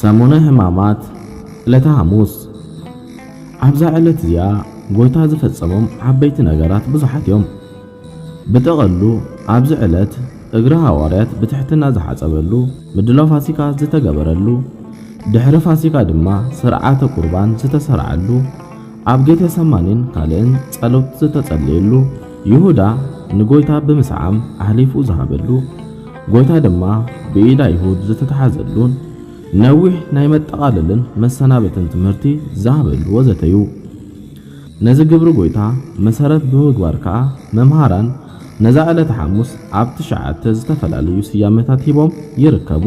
ሰሙነ ሕማማት ዕለተ ሓሙስ ኣብዛ ዕለት እዚኣ ጎይታ ዝፈጸሞም ዓበይቲ ነገራት ብዙሓት እዮም። ብጥቕሉ ኣብዚ ዕለት እግሪ ሃዋርያት ብትሕትና ዝሓጸበሉ፣ ምድላው ፋሲካ ዝተገበረሉ፣ ድሕሪ ፋሲካ ድማ ስርዓተ ቁርባን ዝተሰርዓሉ፣ ኣብ ጌቴ ሰማኒን ካልእን ጸሎት ዝተጸለየሉ፣ ይሁዳ ንጎይታ ብምስዓም ኣሕሊፉ ዝሃበሉ፣ ጎይታ ድማ ብኢድ ኣይሁድ ዝተታሕዘሉን ነዊሕ ናይ መጠቓለልን መሰናበትን ትምህርቲ ዝሃበሉ ወዘተ እዩ። ነዚ ግብሪ ጎይታ መሰረት ብምግባር ከኣ መምሃራን ነዛ ዕለተ ሓሙስ ኣብ ትሽዓተ ዝተፈላለዩ ስያመታት ሂቦም ይርከቡ።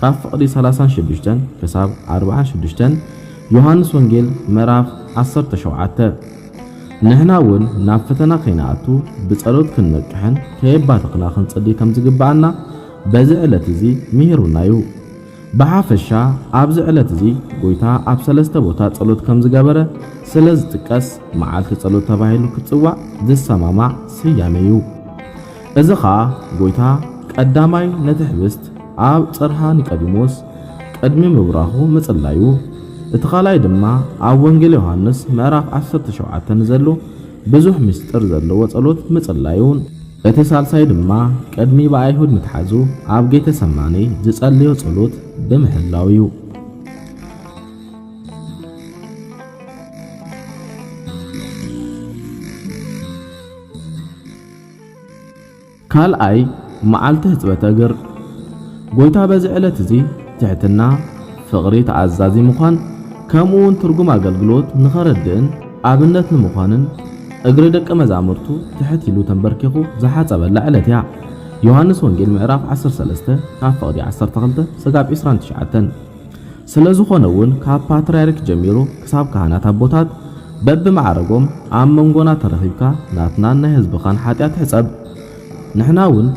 ካብ ፍቕዲ ሰላሳን ሽዱሽተን ክሳብ ኣርብዓን ሽዱሽተን ዮሃንስ ወንጌል ምዕራፍ ዓሰርተ ሸውዓተ ንሕና እውን ናብ ፈተና ከይንኣቱ ብጸሎት ክንነቅሕን ከየባተኽና ክንጽሊ ከም ዝግብኣና በዚ ዕለት እዚ ምሂሩና እዩ። ብሓፈሻ ኣብዚ ዕለት እዚ ጎይታ ኣብ ሰለስተ ቦታ ጸሎት ከም ዝገበረ ስለ ዝጥቀስ መዓልቲ ጸሎት ተባሂሉ ክትጽዋዕ ዝሰማማዕ ስያሜ እዩ። እዚ ኸኣ ጐይታ ቀዳማይ ነቲ ኅብስት ኣብ ጽርሃ ኒቀዲሞስ ቅድሚ ምብራኹ ምጽላዩ፣ እቲ ካልኣይ ድማ ኣብ ወንጌል ዮሓንስ ምዕራፍ ዓሰርተ ሸውዓተ ንዘሎ ብዙኅ ምሥጢር ዘለዎ ጸሎት ምጽላዩን፣ እቲ ሣልሳይ ድማ ቅድሚ ብኣይሁድ ምትሓዙ ኣብ ጌተ ሰማኔ ዝጸለዮ ጸሎት ብምሕላው እዩ። ካልኣይ መዓልቲ ሕጽበተ እግር ጎይታ በዚ ዕለት እዚ ትሕትና፣ ፍቕሪ፣ ተኣዛዚ ምዃን ከምኡውን ትርጉም ኣገልግሎት ንኸረድእን ኣብነት ንምዃንን እግሪ ደቀ መዛሙርቱ ትሕት ኢሉ ተንበርኪኹ ዝሓጸበላ ዕለት እያ። ዮሃንስ ወንጌል ምዕራፍ ዓሰርተ ሰለስተ ካብ ፍቕዲ ዓሰርተ ክልተ ስጋብ ዕስራን ትሽዓተን። ስለዝኾነ እውን ካብ ፓትርያርክ ጀሚሩ ክሳብ ካህናት ኣቦታት በብማዕረጎም ኣብ መንጎና ተረኺብካ ናትናን ናይ ህዝብኻን ሓጢኣት ሕፀብ ንሕና እውን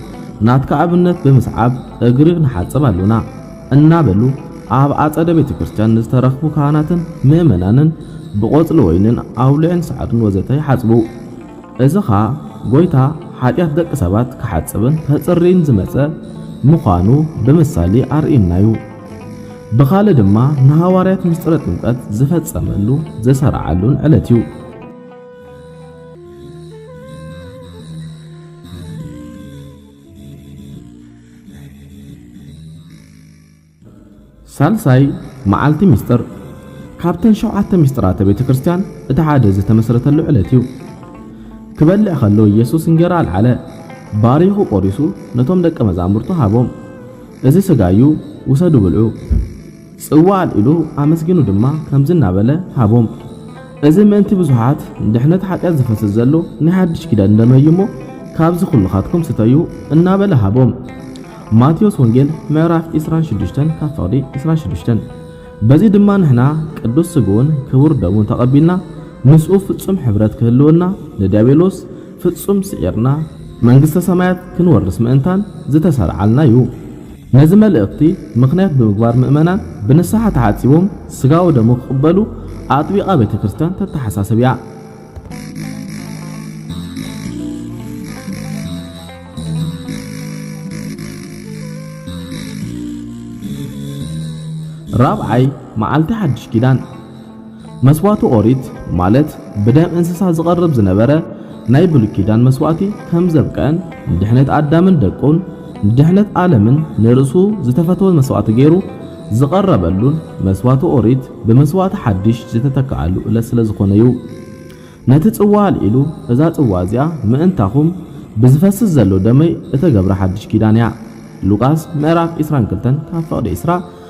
ናትካ ኣብነት ብምስዓብ እግሪ ንሓፅብ ኣሎና እናበሉ ኣብ ኣፀደ ቤተ ክርስቲያን ንዝተረኽቡ ካህናትን ምእመናንን ብቆፅሊ ወይንን ኣውሊዕን ሰዓቱን ወዘተ ይሓፅቡ። እዚ ኸዓ ጎይታ ሓጢኣት ደቂ ሰባት ክሓፅብን ከፅርይን ዝመፀ ምዃኑ ብምሳሌ ኣርእዩና እዩ። ብኻልእ ድማ ንሃዋርያት ምስጢረ ጥምቀት ዝፈጸመሉ ዘሰርዓሉን ዕለት እዩ። ሳልሳይ መዓልቲ ምስጢር ካብተን ሸውዓተ ምስጢራተ ቤተ ክርስቲያን እቲ ሓደ ዝተመስረተሉ ዕለት እዩ። ክበልዕ ከሎ ኢየሱስ እንጌራ ኣልዓለ፣ ባሪኹ ቆሪሱ ነቶም ደቀ መዛሙርቱ ሃቦም። እዚ ስጋ እዩ ውሰዱ ብልዑ። ጽዋ ኣልዒሉ ኣመስጊኑ ድማ ከምዚ እናበለ ሃቦም፣ እዚ ምእንቲ ብዙሓት ንድሕነት ሓጢኣት ዝፈስስ ዘሎ ናይ ሓድሽ ኪዳን ደመይ እዩ እሞ፣ ካብዚ ኩልኻትኩም ስተዩ እናበለ ሃቦም። ማቴዎስ ወንጌል ምዕራፍ ዕስራን ሽዱሽተን ካብ ፍቕዲ ዕስራን ሽዱሽተን በዚ ድማ ንሕና ቅዱስ ስግኡን ክቡር ደሙን ተቐቢልና ምስኡ ፍጹም ሕብረት ክህልወና ንዲያብሎስ ፍጹም ስዒርና መንግስተ ሰማያት ክንወርስ ምእንታን ዝተሰርዓልና እዩ። ነዚ መልእኽቲ ምኽንያት ብምግባር ምእመናን ብንስሓ ተሓጺቦም ስጋኡ ደሙ ክቕበሉ ኣጥቢቓ ቤተ ክርስቲያን ተተሓሳስብ እያ። ራብዓይ መዓልቲ ሓድሽ ኪዳን መስዋእቲ ኦሪት ማለት ብደም እንስሳ ዝቐርብ ዝነበረ ናይ ብሉይ ኪዳን መስዋእቲ ከም ዘብቅዐን ንድሕነት ኣዳምን ደቁን ንድሕነት ዓለምን ንርእሱ ዝተፈተወ መስዋእቲ ገይሩ ዝቐረበሉን መስዋእቲ ኦሪት ብመስዋእቲ ሓድሽ ዝተተክኣሉ እለት ስለ ዝኾነ እዩ። ነቲ ጽዋ ኣልዒሉ እዛ ጽዋ እዚኣ ምእንታኹም ብዝፈስስ ዘሎ ደመይ እተገብረ ሓድሽ ኪዳን እያ። ሉቃስ ምዕራፍ 22 ካብ ፍቕዲ 20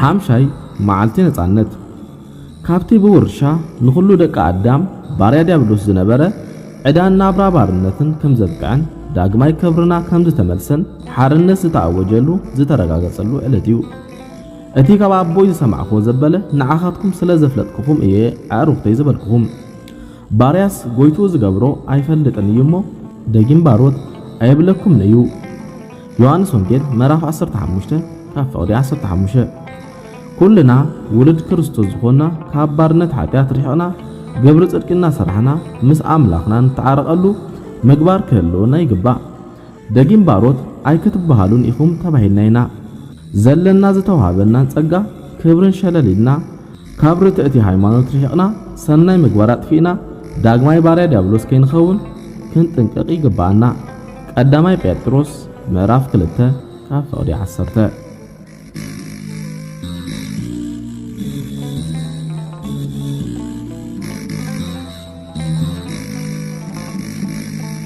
ሓምሻይ መዓልቲ ነጻነት ካብቲ ብውርሻ ንኹሉ ደቂ ኣዳም ባርያ ዲያብሎስ ዝነበረ ዕዳን ናብራ ባርነትን ከም ዘብቅዐን ዳግማይ ክብርና ከም ዝተመልሰን ሓርነት ዝተኣወጀሉ ዝተረጋገጸሉ ዕለት እዩ። እቲ ካብ ኣቦይ ዝሰማዕክዎ ዘበለ ንዓኻትኩም ስለ ዘፍለጥክኹም እየ ኣዕሩኽተይ ዝበልክኹም። ባርያስ ጎይትኡ ዝገብሮ ኣይፈልጥን እዩ እሞ ደጊም ባሮት ኣየብለኩምን እዩ ዮሃንስ ወንጌል ምዕራፍ ዓሰርተ ሓሙሽተ ካብ ፍቕዲ ዓሰርተ ሓሙሽተ ኩልና ውሉድ ክርስቶስ ዝኾንና ካብ ባርነት ሓጢኣት ርሒቕና ግብሪ ጽድቂ እናሰራሕና ምስ ኣምላኽና ንተዓረቐሉ ምግባር ክህልወና ይግባእ። ደጊም ባሮት ኣይክትበሃሉን ኢኹም ተባሂልና ኢና። ዘለና ዝተውሃበናን ጸጋ ክብርን ሸለል ኢልና፣ ካብ ርትዕቲ ሃይማኖት ርሒቕና፣ ሰናይ ምግባር ኣጥፊእና፣ ዳግማይ ባርያ ድያብሎስ ከይንኸውን ክንጥንቀቕ ይግበኣና። ቀዳማይ ጴጥሮስ ምዕራፍ ክልተ ካብ ፍቕዲ ዓሰርተ።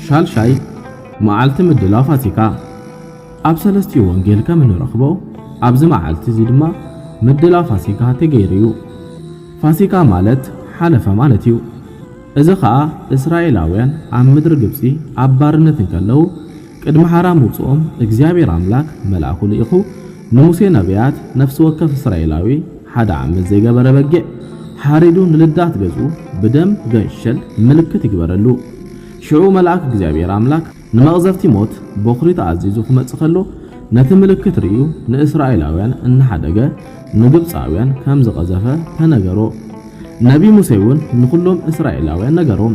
ሻልሻይ መዓልቲ ምድላው ፋሲካ ኣብ ሰለስቲኡ ወንጌል ከም እንረኽቦ ኣብዚ መዓልቲ እዚ ድማ ምድላው ፋሲካ ተገይሩ እዩ። ፋሲካ ማለት ሓለፈ ማለት እዩ። እዚ ኸኣ እስራኤላውያን ኣብ ምድሪ ግብፂ ኣብ ባርነት እንከለዉ ቅድሚ ሓራ ምውጽኦም እግዚኣብሔር ኣምላክ መልኣኩ ልኢኹ ንሙሴ ነብያት ነፍሲ ወከፍ እስራኤላዊ ሓደ ዓመት ዘይገበረ በጊዕ ሓሪዱ ንልዳት ገዝኡ ብደም ገንሸል ምልክት ይግበረሉ ሽዑ መልኣክ እግዚኣብሔር ኣምላክ ንመቅዘፍቲ ሞት ቦኽሪ ተኣዚዙ ክመጽእ ከሎ ነቲ ምልክት ርእዩ ንእስራኤላውያን እናሓደገ ንግብጻውያን ከምዝቀዘፈ ተነገሮ ነብይ ሙሴ ውን ንኩሎም እስራኤላውያን ነገሮም።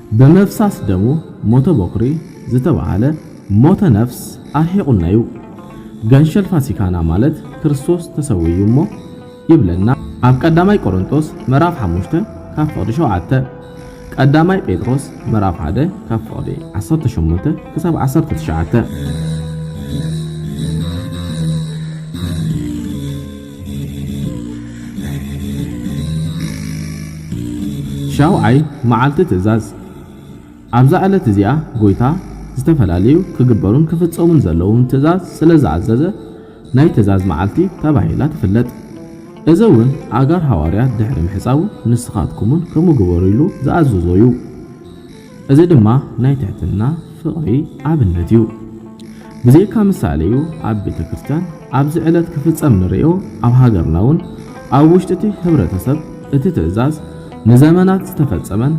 ብምፍሳስ ደሙ ሞተ ቦኽሪ ዝተባህለ ሞተ ነፍስ ኣርሒቑና'ዩ። ገንሸል ፋሲካና ማለት ክርስቶስ ተሰዊዩ እሞ ይብለና ኣብ ቀዳማይ ቆሮንቶስ ምዕራፍ ሓሙሽተ ካብ ፍቕዲ ሸውዓተ፣ ቀዳማይ ጴጥሮስ ምዕራፍ ሓደ ካብ ፍቕዲ ዓሰርተ ሸሞንተ ክሳብ ዓሰርተ ትሽዓተ። ሻውዓይ መዓልቲ ትእዛዝ፣ ኣብዛ ዕለት እዚኣ ጎይታ ዝተፈላለዩ ክግበሩን ክፍጸሙን ዘለዎም ትእዛዝ ስለ ዝኣዘዘ ናይ ትእዛዝ መዓልቲ ተባሂላ ትፍለጥ። እዚ እውን ኣእጋር ሃዋርያት ድሕሪ ምሕጻቡ ንስኻትኩምውን ከምኡ ግበሩ ኢሉ ዝኣዘዞ እዩ። እዚ ድማ ናይ ትሕትና ፍቕሪ ኣብነት እዩ። ብዘይካ ምሳሌ እዩ ኣብ ቤተ ክርስቲያን ኣብዚ ዕለት ክፍጸም ንርእዮ ኣብ ሃገርና እውን ኣብ ውሽጢቲ ህብረተ ሰብ እቲ ትእዛዝ ንዘመናት ዝተፈጸመን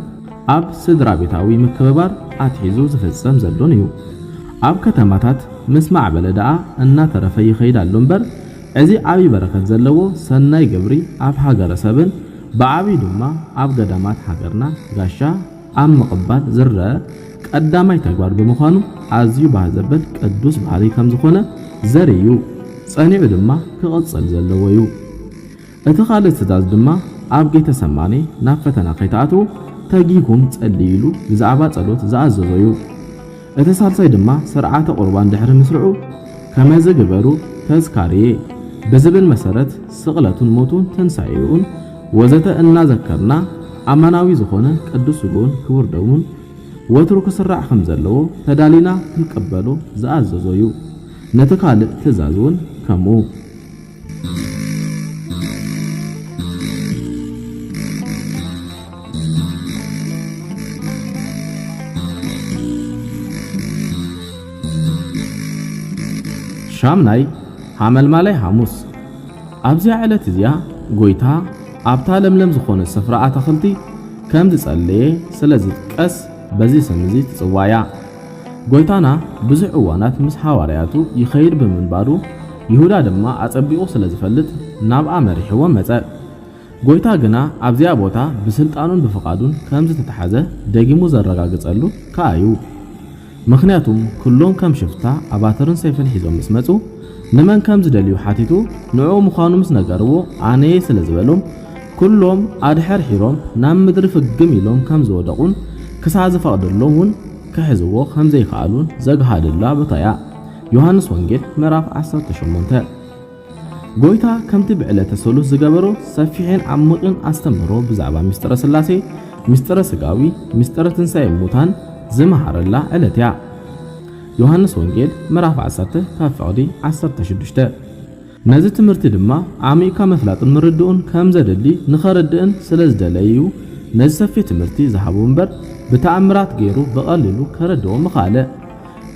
ኣብ ስድራቤታዊ ምክብባር ኣትሒዙ ዝፍጸም ዘሎን እዩ። ኣብ ከተማታት ምስ ማዕበለ ደኣ እናተረፈ ይኸይድ ኣሎ እምበር እዚ ዓቢይ በረከት ዘለዎ ሰናይ ግብሪ ኣብ ሃገረ ሰብን ብዓቢዩ ድማ ኣብ ገዳማት ሃገርና ጋሻ ኣብ ምቕባል ዝረኣ ቀዳማይ ተግባር ብምዃኑ ኣዝዩ ባህ ዘበል ቅዱስ ባህርይ ከም ዝኾነ ዘርኢ እዩ። ጸኒዑ ድማ ክቕጽል ዘለዎ እዩ። እቲ ካልእ ትእዛዝ ድማ ኣብ ጌተ ሰማኔ ናብ ፈተና ከይትኣትዉ ተጊሁኩም ጸልዩ ኢሉ ብዛዕባ ጸሎት ዝኣዘዞ እዩ። እቲ ሳልሳይ ድማ ስርዓተ ቁርባን ድሕሪ ምስርዑ ከመዚ ግበሩ ተዝካርየ ብዝብል መሰረት ስቕለቱን ሞቱን ትንሳኤኡን ወዘተ እናዘከርና ኣማናዊ ዝኾነ ቅዱስ ስግኡን ክቡር ደሙን ወትሩ ክስራዕ ከምዘለዎ ተዳሊና ክንቅበሎ ዝኣዘዞ ዩ። ነቲ ካልእ ትእዛዝ ውን ከምኡ። ሻምናይ ሓመልማላይ ሓሙስ ኣብዚያ ዕለት እዚኣ ጎይታ ኣብታ ለምለም ዝኾነ ስፍራ ኣታኽልቲ ከም ዝጸለየ ስለ ዝጥቀስ በዚ ስም እዚ ትጽዋያ። ጐይታና ብዙሕ እዋናት ምስ ሃዋርያቱ ይኸይድ ብምንባሩ፣ ይሁዳ ድማ ኣጸቢቑ ስለ ዝፈልጥ ናብኣ መሪሕዎም መጸ። ጐይታ ግና ኣብዚኣ ቦታ ብስልጣኑን ብፍቓዱን ከም ዝተታሕዘ ደጊሙ ዘረጋግጸሉ ከኣ እዩ። ምኽንያቱም ኩሎም ከም ሽፍታ ኣባትርን ሰይፍን ሒዞም ምስ መጹ፣ ንመን ከም ዝደልዩ ሓቲቱ ንዕኡ ምዃኑ ምስ ነገርዎ ኣነ'የ ስለ ዝበሎም፣ ኩሎም ኣድሐርሒሮም ናብ ምድሪ ፍግም ኢሎም ከም ዝወደቑን ክሳዕ ዝፈቕደሎም እውን ክሕዝዎ ከም ዘይከኣሉን ዘግሃደላ ቦታ እያ። ዮሃንስ ወንጌል ምዕራፍ ዓሰርተ ሸሞንተ ጎይታ ከምቲ ብዕለተ ሰሉስ ዝገበሮ ሰፊሕን ዓሚቕን ኣስተምህሮ ብዛዕባ ምስጢረ ስላሴ፣ ምስጢረ ስጋዊ፣ ምስጢረ ትንሣኤ ሙታን ዝመሃረላ ዕለት እያ። ዮሃንስ ወንጌል ምዕራፍ ዓሰርተ ካብ ፍቕዲ ዓሰርተ ሽዱሽተ ነዚ ትምህርቲ ድማ ዓሚቕካ ምፍላጥን ምርድኡን ከም ዘድሊ ንኸርድእን ስለ ዝደለየ'ዩ ነዚ ሰፊሕ ትምህርቲ ዝሃቦ እምበር ብተኣምራት ገይሩ ብቐሊሉ ከረድኦ ምኸኣለ።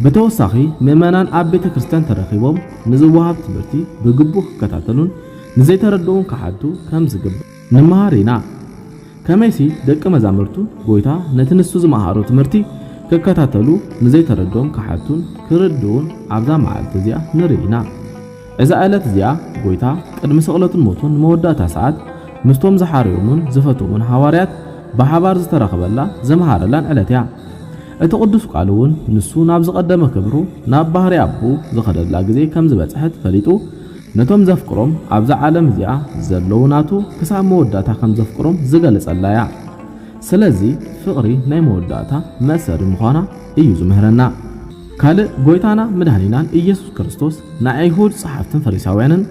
ብተወሳኺ ምእመናን ኣብ ቤተ ክርስቲያን ተረኺቦም ንዝወሃብ ትምህርቲ ብግቡእ ክከታተሉን ንዘይተረድኡን ክሓቱ ከም ዝግባእ ንመሃር ኢና። ከመይሲ ደቀ መዛሙርቱ ጎይታ ነቲ ንሱ ዝመሃሮ ትምህርቲ ክከታተሉ ንዘይተረድኦም ክሓቱን ክርድኡን ኣብዛ መዓልቲ እዚኣ ንርኢ ኢና። እዛ እለት እዚኣ ጎይታ ቅድሚ ስቕለቱን ሞቱን ንመወዳእታ ሰዓት ምስቶም ዝሓርዮሙን ዝፈትዎሙን ሃዋርያት ብሓባር ዝተራኸበላ ዘምሃረላን ዕለት እያ። እቲ ቅዱስ ቃል እውን ንሱ ናብ ዝቐደመ ክብሩ ናብ ባህርይ ኣቦኡ ዝኸደላ ግዜ ከም ዝበጽሐት ፈሊጡ ነቶም ዘፍቅሮም ኣብዛ ዓለም እዚኣ ዘለዉ ናቱ ክሳብ መወዳእታ ከም ዘፍቅሮም ዝገልጸላ እያ። ስለዚ ፍቕሪ ናይ መወዳእታ መእሰሪ ምዃና እዩ ዝምህረና። ካልእ ጎይታና መድኃኒናን ኢየሱስ ክርስቶስ ንኣይሁድ ጸሓፍትን ፈሪሳውያንን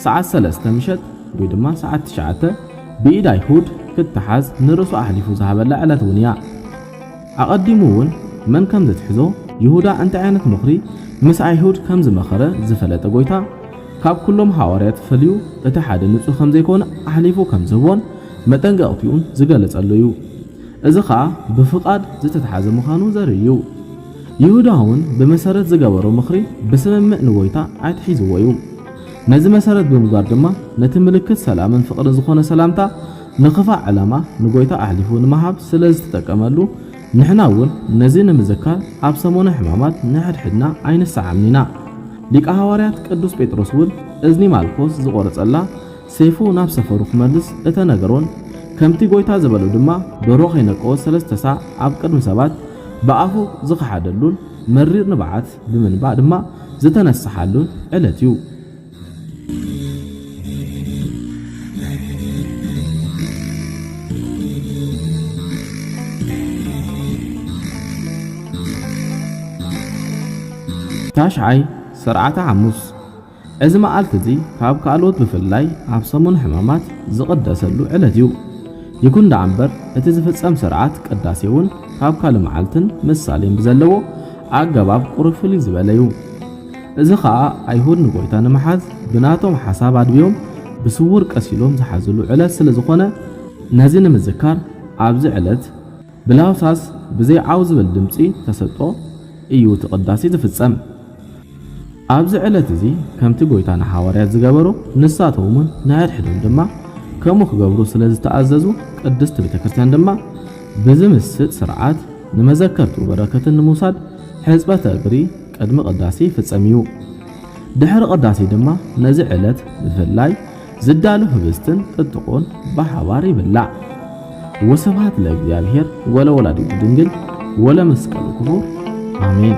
ሰዓት ሰለስተ ምሸት ወይ ድማ ሰዓት ትሽዓተ ብኢድ ኣይሁድ ክተሓዝ ንርእሱ ኣሕሊፉ ዝሃበላ ዕለት እውን እያ። ኣቐዲሙ እውን መን ከም ዚትሕዞ፣ ይሁዳ እንታይ ዓይነት ምኽሪ ምስ ኣይሁድ ከም ዝመኸረ ዝፈለጠ ጐይታ፣ ካብ ኵሎም ሃዋርያት ፈልዩ እቲ ሓደ ንጹህ ከም ዘይኰነ ኣሕሊፉ ከም ዝህቦን መጠንቀቕትኡን ዝገለጸሉ እዩ። እዚ ኸኣ ብፍቓድ ዝተታሕዘ ምዃኑ ዘርኢ እዩ። ይሁዳ እውን ብመሰረት ዝገበሮ ምኽሪ ብስምምዕ ንጐይታ ኣትሒዝዎ እዩ። ነዚ መሰረት ብምግባር ድማ ነቲ ምልክት ሰላምን ፍቕርን ዝዀነ ሰላምታ ንክፋእ ዕላማ ንጎይታ ኣሕሊፉ ንምሃብ ስለ ዝትጠቀመሉ ንሕና እውን ነዚ ንምዝካር ኣብ ሰሞነ ሕማማት ንሕድሕድና ኣይንሰዓምን ኢና። ሊቀ ሃዋርያት ቅዱስ ጴጥሮስ እውን እዝኒ ማልኮስ ዝቆረጸላ ሴፉ ናብ ሰፈሩ ክመልስ እተነገሮን ከምቲ ጎይታ ዝበሎ ድማ ደርሆ ከይነቀወ ሰለስተ ሳዕ ኣብ ቅድሚ ሰባት ብኣፉ ዝኸሓደሉን መሪር ንብዓት ብምንባዕ ድማ ዝተነሰሓሉን ዕለት እዩ። ታሽዓይ ስርዓተ ሓሙስ እዚ መዓልቲ እዚ ካብ ካልኦት ብፍላይ ኣብ ሰሙን ሕማማት ዝቕደሰሉ ዕለት እዩ። ይኹን ደኣ እምበር እቲ ዝፍጸም ስርዓት ቅዳሴ እውን ካብ ካልእ መዓልትን ምሳሌን ብዘለዎ ኣገባብ ቁሩብ ፍልይ ዝበለ እዩ። እዚ ኸኣ ኣይሁድ ንጐይታ ንምሓዝ ብናቶም ሓሳብ ኣድብዮም ብስዉር ቀሲሎም ዝሓዝሉ ዕለት ስለ ዝዀነ፣ ነዚ ንምዝካር ኣብዚ ዕለት ብለሆሳስ ብዘይ ዓው ዝብል ድምጺ ተሰጥኦ እዩ እቲ ቅዳሴ ዝፍጸም። ኣብዚ ዕለት እዚ ከምቲ ጐይታ ንሓዋርያት ዝገበሮ ንሳቶምውን ንሓድሕዶም ድማ ከምኡ ክገብሩ ስለ ዝተኣዘዙ ቅድስት ቤተ ክርስቲያን ድማ ብዝምስጥ ስርዓት ንመዘከርትኡ በረከትን ንምውሳድ ሕጽበተ እግሪ ቅድሚ ቅዳሴ ይፍጸም እዩ። ድሕሪ ቅዳሴ ድማ ነዚ ዕለት ብፍላይ ዝዳሉ ህብስትን ጥጥቆን ብሓባር ይብላዕ። ወስብሃት ለእግዚኣብሔር ወለወላዲቱ ድንግል ወለመስቀሉ ክቡር ኣሜን።